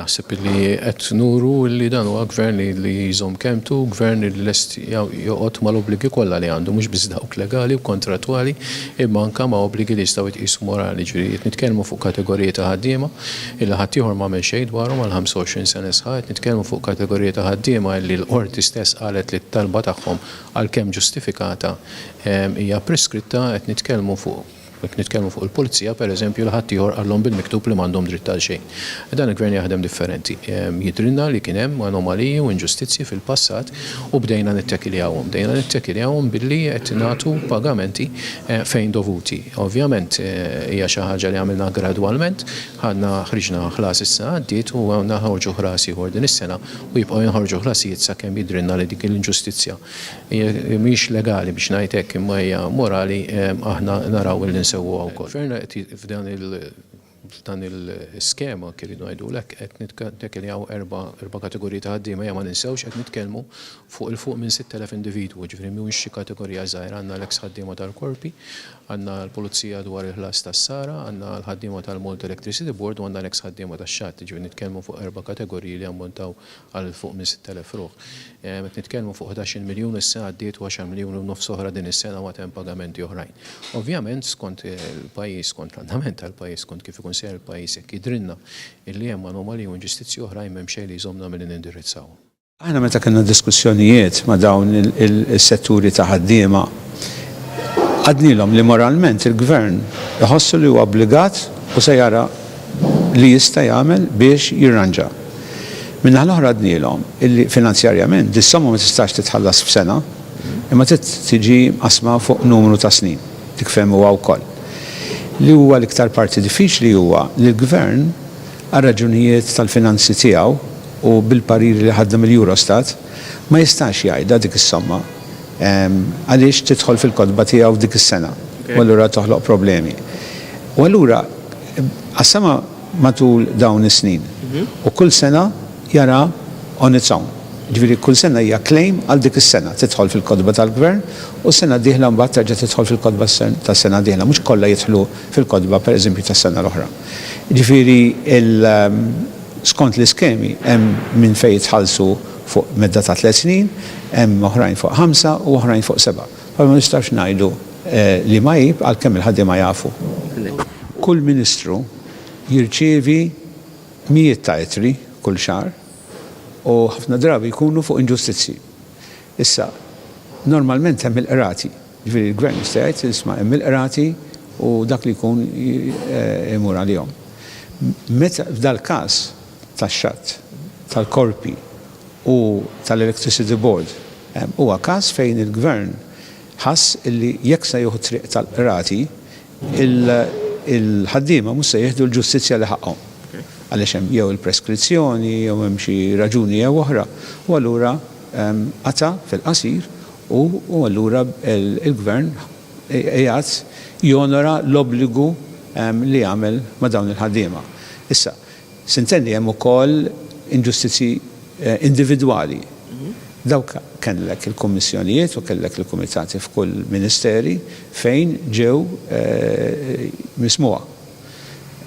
Naħseb li qed nuru li dan huwa gvern li jżomm kelmtu, gvern li lest joqgħod mal-obbligi kollha li għandu, mhux biss dawk legali u kontrattwali, imma anke ma' obbligi li jistgħu jitqiesu morali. Ġifieri qed nitkellmu fuq kategoriji ta' ħaddiema li ħaddieħor m'għamel xejn dwarhom għal 25 sena sħaħ, qed nitkellmu fuq kategoriji ta' ħaddiema li l-Qorti stess qalet li t-talba tagħhom, għalkemm ġustifikata, hija preskritta, qed nitkellmu fuq Jekk nitkellmu fuq il-Pulizija, per eżempju, li ħaddieħor qalhom bil-miktub li m'għandhom dritt għal xejn. Dan il-Gvern jaħdem differenti. Jidhrilna li kien hemm anomaliji u inġustizzji fil-passat u bdejna nittekiljawhom. Bdejna nittekiljawhom billi qed nagħtu pagamenti fejn dovuti. Ovvjament hija xi ħaġa li għamilna gradwalment. Ħadna, ħriġna ħlas is-sena għaddiet u għandna noħorġu ħlas ieħor din is-sena u jibqgħu jinħorġu ħlasijiet sakemm jidhrilna li dik l-inġustizzja Hija mhix legali biex ngħid hekk imma hija morali aħna naraw illi nsewwuha wkoll. Il-Gvern qed f'dan il f'dan il-skema kif irridu ngħidulek qed nittakiljaw erba' erba' kategoriji ta' ħaddiema ejja ma ninsewx qed nitkellmu fuq 'il fuq minn 6,000 individwu jiġifieri mhuwiex xi kategorija żgħira għandna l-eks ħaddiema tal-korpi għandna l-pulizija dwar il-ħlas tas-sara għandna l-ħaddiema tal-Malta Electricity Board u għandna l-eks ħaddiema tax-xatt jiġifieri nitkellmu fuq erba' kategoriji li jammontaw għal 'il fuq minn 6,000 ruħ. Qed nitkellmu fuq ħdax il miljun is-sena għaddiet u għaxar miljun u nofs oħra din is-sena u għad hemm pagamenti oħrajn. Ovvjament skont il-pajjiż, skont l-andament tal-pajjiż, skont kif ikun sejjer il-pajjiż, jekk jidhrilna illi hemm anomaliji u inġustizzji oħrajn m'hemm xejn li jżommna milli nindirizzawhom. Aħna meta kellna diskussjonijiet ma' dawn is-setturi ta' ħaddiema, għadnilhom li moralment il-Gvern iħossu li huwa obbligat u se jara li jista' jagħmel biex jirranġa. Min-naħa l-oħra għednielhom illi finanzjarjament dis-somma ma tistax titħallas f'sena imma trid tiġi mqassma fuq numru ta' snin. Dik fehmuha wkoll. Li huwa l-iktar parti diffiċli huwa li l-Gvern, għar-raġunijiet tal-finanzi tiegħu u bil-pariri li ħadna mill-Eurostat, ma jistax jgħidha dik is-somma għaliex tidħol fil-kotba tiegħu f'dik is-sena u allura toħloq problemi. U allura, Qassamha matul dawn is-snin u kull sena jara on its own. Jiġifieri kull sena hija claim għal dik is-sena, tidħol fil-kotba tal-Gvern u s-sena d-dieħla mbagħad terġa' tidħol fil-kotba tas-sena d-dieħla, mhux kollha jidħlu fil-kotba pereżempju tas-sena l-oħra. Jiġifieri skont l-iskemi hemm minn fejn jitħallsu fuq medda ta' tliet snin, hemm oħrajn fuq ħamsa u oħrajn fuq seba'. Però ma nistgħux ngħidu li ma għib għalkemm il-ħaddiema jafu. Kull Ministru jirċievi mijiet ta' ittri kull xahar u ħafna drabi jkunu fuq inġustizzji. Issa, normalment hemm il-qrati, jiġifieri l-Gvern jista' jgħid, isma' hemm il-qrati u dak li jkun imur għalihom. Meta f'dal-każ tax-xatt tal-korpi, u tal-Electricity Board, huwa każ fejn il-Gvern ħass li jekk se jieħu t-triq tal-Qrati, il-ħaddiema mhux se jieħdu l-ġustizzja li ħaqqhom, għaliex hemm jew il-preskrizzjoni jew hemm xi raġuni jew oħra, u allura qata' fil-qasir u allura il-Gvern qiegħed jonora l-obbligu li għamel ma' dawn il-ħaddiema. Issa, Sintenn li hemm ukoll inġustizzji individwali. Dawk kellek il-kummissjonijiet u kellek il-kumitati f'kull ministeri fejn ġew mismugħa.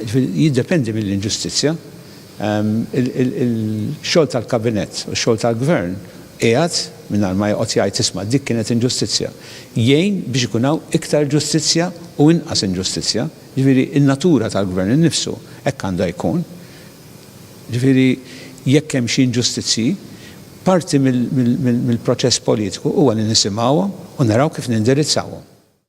Jiġifieri jiddependi mill-inġustizzja. Il-xogħol tal-Kabinett u x-xogħol tal-Gvern qiegħed, mingħajr ma joqgħod jgħid isma' dik kienet inġustizzja, jgħin biex ikun hawn iktar ġustizzja u inqas inġustizzja. Jiġifieri, in-natura tal-gvern innifsu hekk għandha jkun. Jiġifieri, jekk hemm xi inġustizzji, parti mill-proċess politiku huwa li nisimgħuhom u naraw kif nindirizzawhom.